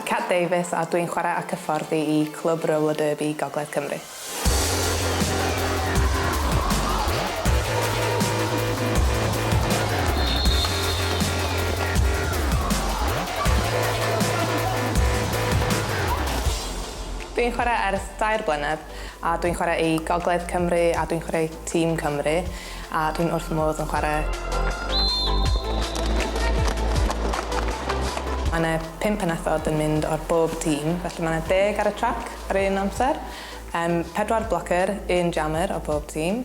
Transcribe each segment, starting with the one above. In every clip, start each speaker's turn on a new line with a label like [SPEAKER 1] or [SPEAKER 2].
[SPEAKER 1] Cat Davies a dwi'n chwarae ac hyfforddi i Clwb Roller Derby Gogledd Cymru. Dwi'n chwarae ers dair blynedd. A dwi'n chwarae i Gogledd Cymru a dwi'n chwarae i Tîm Cymru a dwi'n wrth fy modd yn chwarae. Mae 'na pum pennethod yn mynd o'r bob tîm, felly mae 'na deg ar y trac ar un amser, pedwar blocer, un jammer o bob tîm,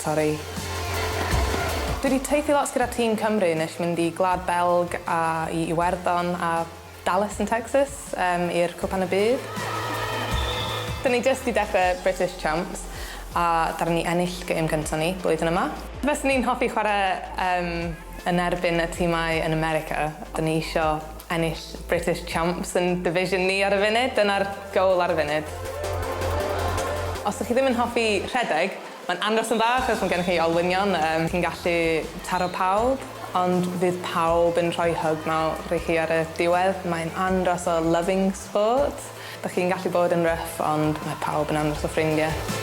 [SPEAKER 1] Sori. Dwi 'di teithio lot gyda Team Cymru nesh mynd i Gwlad Belg a i Iwerddon a Dallas yn Texas yym i'r Cwpan y Byd. Dyn ni jyst 'di dechre British Champs a ddaru ni ennill gêm gynta ni blwyddyn yma. Fyswn i'n hoffi chware yym yn erbyn y timau yn America. Dyn ni isio Ennill British Champs yn division ni ar y funud, dyna'r goal ar y funud. Os dych chi ddim yn hoffi rhedeg, mae'n andros yn dda achos mae gennych chi olwynion, chi'n gallu taro pawb, ond fydd pawb yn rhoi hug mawr i chi ar y diwedd, mae'n andros o loving sport, dych chi'n gallu bod yn rough ond mae pawb yn andros o ffrindiau.